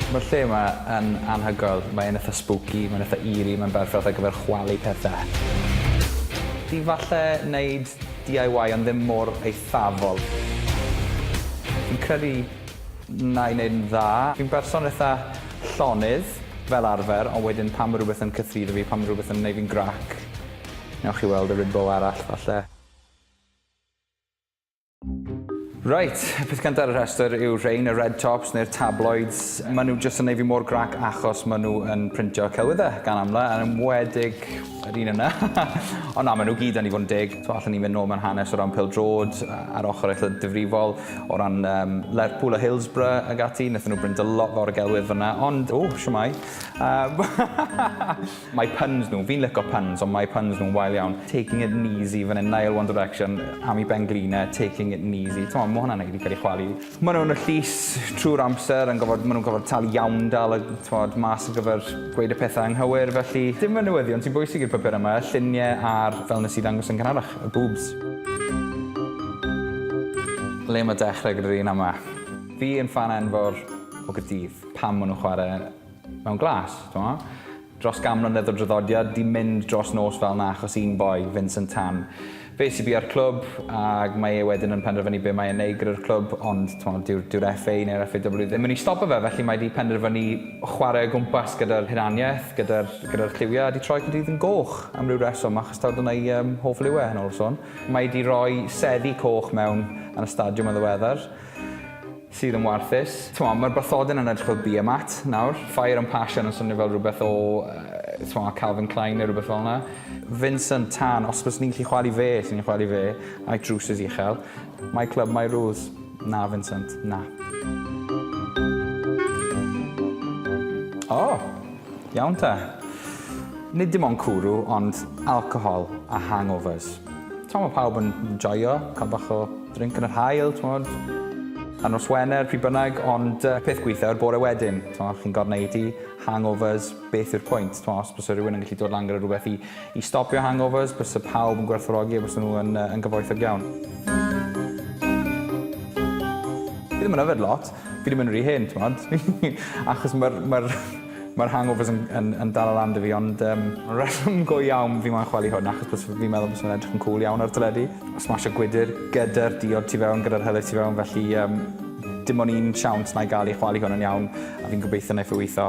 Ma'r lle 'ma yn anhygoel. Mae'n itha spooky, mae'n itha eerie, mae'n berffaith ar gyfer chwalu pethe. Di falle neud DIY ond ddim mor eithafol. Fi'n credu Na i'n neud yn dda. Fi'n berson itha llonydd fel arfer ond wedyn pan ma' rwbeth yn cythruddo fi, pan ma' rwbeth yn neud fi'n grac, newch chi weld y Rimbo arall falle. Reit, y peth cynta ar y rhestr yw rhein, y red tops neu'r tabloids. Ma' nhw jyst yn neud fi mor grac achos ma' nhw yn printio celwydde gan amla, yn enwedig yr un yna. Ond na, ma' nhw gyd yn i fod yn deg. T'mo' allen ni mynd nôl mewn hanes o ran pêl-drod a'r ochor eitha difrifol. O ran um, Lerpwl a Hillsborough ag ati, wnaethon nhw brynda lot fawr o gelwydd fyna, ond, o, siwmai. Um, mae puns nhw, fi'n licio puns, ond mae puns nhw'n wael iawn. Taking it easy, fan hyn, Nile One Direction, Amy Benglina, Taking it easy. Ti'n mae hwnna'n ei cael ei chwalu. Mae nhw'n y llys trwy'r amser, yn gofod, mae nhw'n gofod talu iawn dal y tywod, mas o gyfer gweud y pethau anghywir, felly dim y newyddion sy'n bwysig i'r papur yma, lluniau a'r fel nes i ddangos yn cynharach. Y boobs. Le mae dechrau gyda'r un ama? Fi yn ffan enfawr o Gaerdydd. Pam maen nhw'n chwarae mewn glas, t'mod? Dros gan mlynedd o draddodiad, 'di mynd dros nos fel 'na achos un boi, Vincent Tan. Fe sy bia'r clwb, ac mae e wedyn yn penderfynu be mae e'n neud gyda'r clwb, ond t'mod, dyw'r dyw'r FA neu'r FAW ddim yn mynd i stopo fe, felly mae 'di penderfynu chwarae o gwmpas gyda'r hunaniaeth, gyda'r gyda'r lliwiau, a 'di troi Caerdydd yn goch am ryw reswm, Stad yn ei hoff liw e, yn ôl y sôn. Mae 'di roi seddi coch mewn yn y stadiwm yn ddiweddar, sydd yn warthus. T'mo, mae'r bathodyn yn edrych fel Beermat nawr. Fire and Passion yn swnio fel rhywbeth o, t'mo, Calvin Klein neu rhywbeth fel 'na. Vincent Tan, os byswn i'n gallu chwalu fe, 'swn i'n chwalu fe, a'i drowsus uchel. My club, my rules. Na, Vincent, na. O! Iawn te. Nid dim ond cwrw, ond alcohol a hangovers. T'mo' ma' pawb yn joio ca'l bach o drink yn yr haul, t'mod? Ar nos Wener, pryd bynnag, ond yy peth gwitha yw'r bore wedyn, t'mo', chi'n gor'o' neud i hangovers, beth yw'r pwynt, t'mo', os byse rhywun yn gallu dod lan gyda rhywbeth i i stopio hangovers, byse pawb yn gwerthfawrogi a byse nhw yn yy yn gyfoethog iawn. Fi ddim yn yfed lot, Fi ddim yn rhy hen, t'mod? Achos ma'r ma'r ma'r hangovers yn yn yn dala lan 'da fi ond yym y reswm go iawn fi moyn chwalu hwn achos bys- fi'n meddwl bysa fe'n edrych yn cŵl iawn ar teledu. Smasho gwydyr gyda'r diod tu fewn gyda'r helyt tu fewn felly yym dim on' un siawns 'nai ga'l i chwalu hwn yn iawn a fi'n gobeithio neith e witho.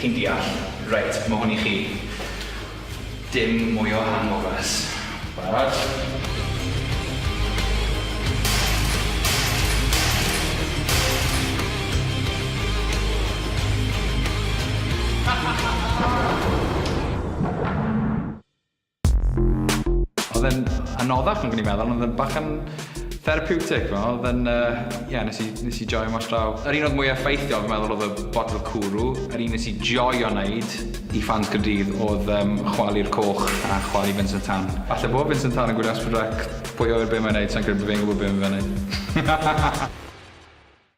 Chi'n deall. Reit, ma' hwn i chi. Dim mwy o hangovers. Barod? Oedd e'n anoddach nag o'n i'n meddwl, ond oedd e'n bach yn therapeutic fel, oedd e'n, uh, yeah, nes i, nes i joio mas draw. Yr un oedd mwy effeithiol, fi'n meddwl, oedd y bottle cwrw. Yr un nes i joio wneud i ffans Cyrdydd oedd um, chwalu'r coch a chwalu Vincent Tan. Falle bod Vincent Tan yn gwylio Asper Rec, pwy oer be mae'n neud, sa'n credu bod fe'n gwybod be mae'n neud.